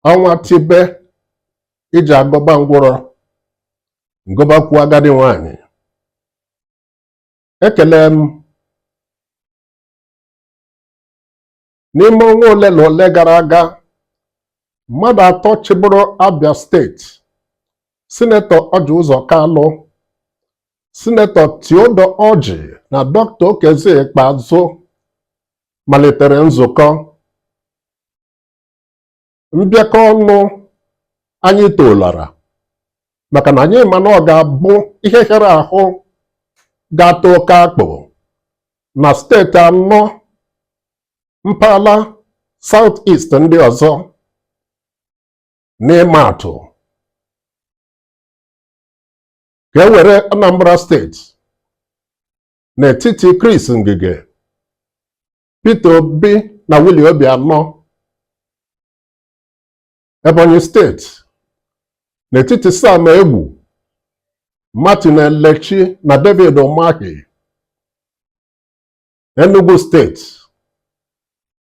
ọnwa tibe ije agụba ngwụrọ gụbakwuo agadi nwanyị ekele m n'ime ọnwa ole na ole gara aga mmadụ atọ chịburu Abia steeti sinetọ Ọji Ụzọ Kalụ sinetọ Theodore Ọji na Dr. Okezie Ikpeazụ malitere nzukọ mbịakọ ọnụ anyị tolara maka na anyị ma na ọ ga-abụ ihe hịara ahụ ga-ata oke akpụ na steeti anọ mpaghara South East ndị ọzọ n'ịma atụ ka e were Anambra steeti n'etiti Chris Ngige Peter Obi na Willie Obianọ Ebonyi steeti n'etiti Sam Egwu Martin Elechi na David Umahi Enugu steeti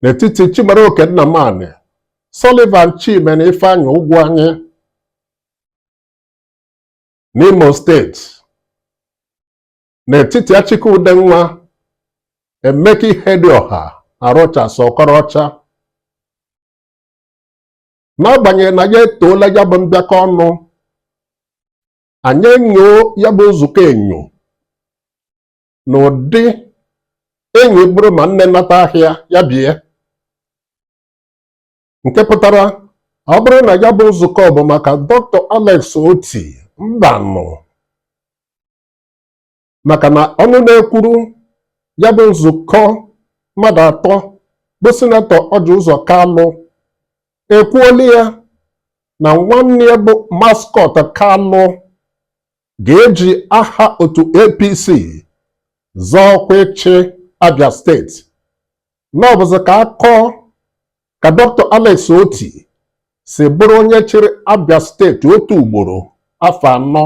n'etiti Chimaroke Nnamani Sullivan Chime na Ifeanyi Ugwuanyi n'Imo steeti n'etiti Achike Udenwa, Emeka Ihedioha na Rochas Okorocha n'agbanyeghị na anyị etoola ya bụ mbịakọ ọnụ anyị enyo ya bụ nzukọ enyo n'ụdị enyi bụrụ ma nne nata ahịa ya bie nke pụtara ọ bụrụ na ya bụ nzukọ bụ maka Dr. Alex Oti mbanụ maka na ọnụ na-ekwuru ya bụ nzukọ mmadụ atọ bụ sinetọ Ọji Ụzọ Kalụ ekwuola ya na nwanne ya bụ Mascot Kalụ ga-eji aha otu APC zọọ ọkwa ịchị Abia steeti na ọ bụzi ka a kọọ ka Dr. Alex Oti si bụrụ onye chịrị Abia steeti otu ugboro afọ anọ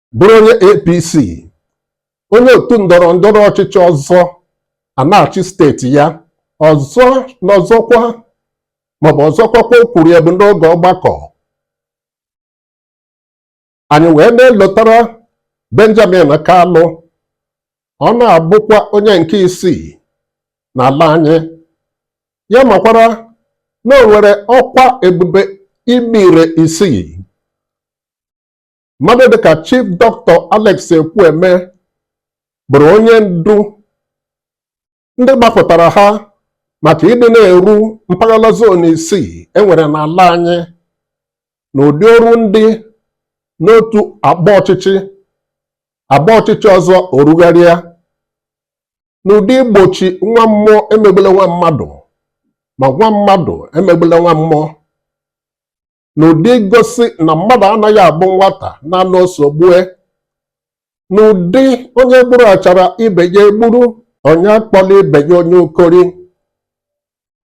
bụrụ onye APC onye otu ndọrọ ndọrọ ọchịchị ọzọ a na-achị steeti ya ọzọ na ọzọkwa maọbụ ọzọkwa kwa o kwuru ya bụ n'oge ọgbakọ anyị wee na-elotara Benjamin Kalụ ọ na-abụkwa onye nke isii n'ala anyị ya makwara na o nwere ọkwa ebube ime ire isii mmadụ dịka Chief Dọkịta Alex Ekwueme bụrụ onye ndu ndị gbapụtara ha maka ịdị na-eru mpaghara zon isii e nwere n'ala anyị na ụdị o ru ndị n'otu agba ọchịchị agba ọchịchị ọzọ o rugharịa n'ụdị igbochi nwa mmụọ emegbula nwa mmadụ ma nwa mmadụ emegbula nwa mmụọ n'ụdị igosi na mmadụ anaghị abụ nwata n'anụ o so gbue n'ụdị onye gburu achara ibe ya egburu onye akpọla ibe ya onye ukori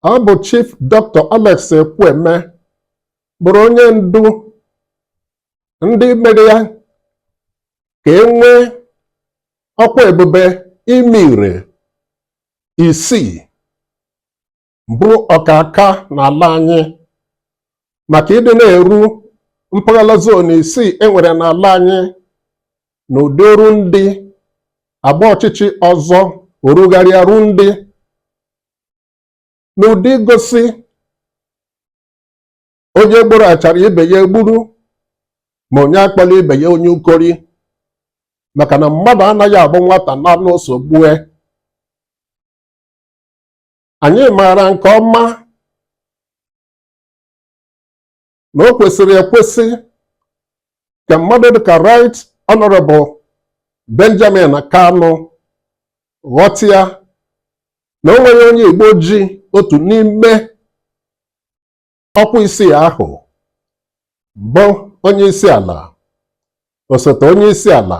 ọ bụ Chief Dr. Alex Ekwueme bụrụ onye ndu ndị mere ya ka e nwee ọkwa ebube ime ire isii bụ ọkaka n'ala anyị maka ịdị na-eru mpaghara zon isii e nwere n'ala anyị na ụdị o ru ndị agba ọchịchị ọzọ o rugharịa ru ndị n'ụdị igosi onye gburu achara ibe ya egburu ma onye akpọla ibe ya onye ukori maka na mmadụ anaghị abụ nwata n'anụ o so gbue anyị maara nke ọma na o kwesịrị ekwesị ka mmadụ dịka Right Honorable Benjamin Kalụ ghọta ya na o nweghị onye Igbo ji otu n'ime ọkwa isii ahụ bụ onye isi ala osote onye isi ala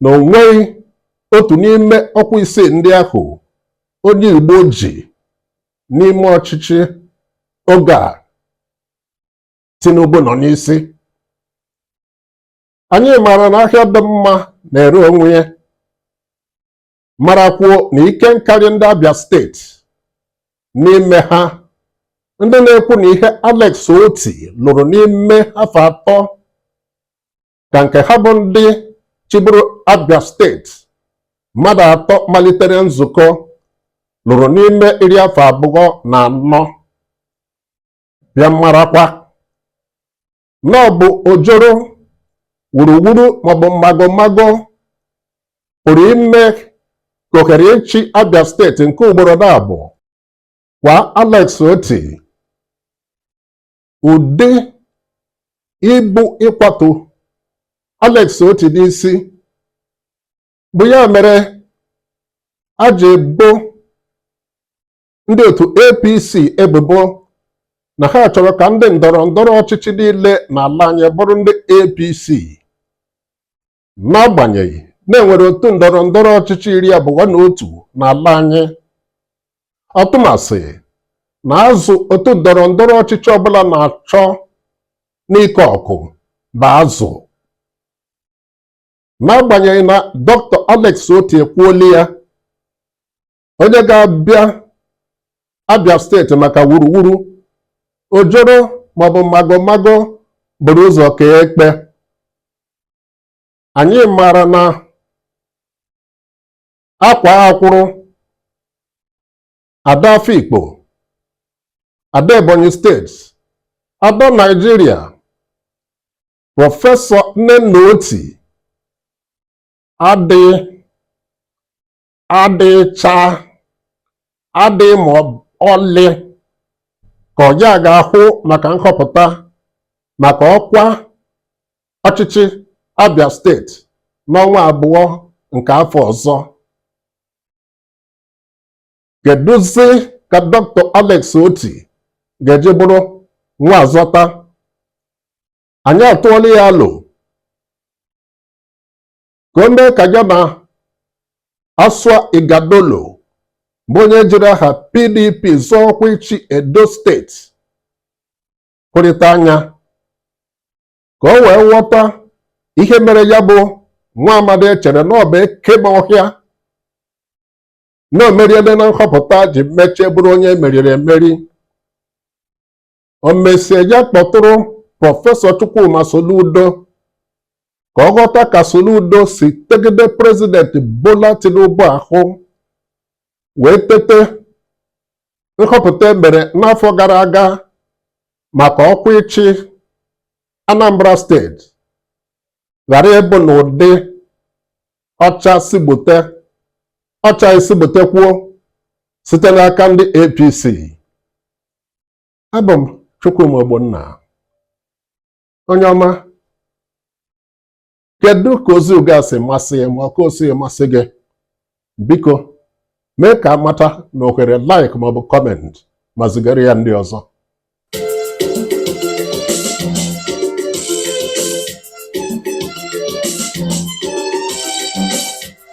na o nweghị otu n'ime ọkwa isii ndị ahụ onye Igbo ji n'ime ọchịchị oge a Tinubu nọ n'isi anyị maara na ahịa dị mma na-ere onwe ya marakwuo na ike nkarị ndị Abia steeti n'ime ha ndị na-ekwu na ihe Alex Otti lụrụ n'ime afọ atọ ka nke ha bụ ndị chịburu Abia steeti mmadụ atọ malitere nzukọ lụrụ n'ime iri afọ abụọ na anọ bịa marakwa na ọ bụ ojoro wuruwuru maọbụ mmago mmago pụrụ ime ka ohere ịchị Abia steeti nke ugboro naabọ kwaa Alex Otti ụdị ibu ịkwatu Alex Otti n'isi bụ ya mere a ji ebo ndị otu APC ebubo na ha chọrọ ka ndị ndọrọ ndọrọ ọchịchị niile n'ala anyị bụrụ ndị APC n'agbanyeghị na e nwere otu ndọrọ ndọrọ ọchịchị iri abụọ na otu n'ala anyị ọtụmasị na azụ otu ndọrọ ndọrọ ọchịchị ọbụla na-achọ n'ike ọkụ bụ azụ n'agbanyeghị na dọkịta Alex Otti ekwuola ya onye ga-abịa Abia steeti maka wuruwuru ojoro maọbụ magomago buru ụzọ kee ekpe anyị maara na akwaa akwụrụ ada Afikpo ada Ebonyi steeti ada Naijiria prọfesọ Nnenna Oti adịghị adịcha adị ma ọlị ka ọ ya ga-ahụ maka nhọpụta maka ọkwa ọchịchị Abia steeti n'ọnwa abụọ nke afọ ọzọ kedụzi ka Dr. Alex Otti ga-eji bụrụ nwa azọta anyị atụọla ya alo ka o mee ka ya na Asue Ighodalo bụ onye jiri aha PDP zọọ ọkwa ịchị Edo steeti hụrịta anya ka o wee ghọta ihe mere ya bụ nwa amadi e chere na ọ bụ eke ma ọhịa na o meriele na nhọpụta ji mechie bụrụ onye e meriri emeri o mesie ya kpọtụrụ prọfesọ Chukwuma Soludo ka ọ ghọta ka Soludo si tegide prezidenti Bola Tinubu ahụ wee tete nhọpụta e mere n'afọ gara aga maka ọkwa ịchị Anambra steeti ghara ịbụ n'ụdị ọ chaa sị gbute ọ chaghị sị gbutekwuo site n'aka ndị APC abụ m Chukwuma Ogbonna onye ọma kedu ka ozi uga si masị gị ma ọ ka o sighị masị gị biko mee ka a mata na ohere like maọbụ comment ma zigara ya ndị ọzọ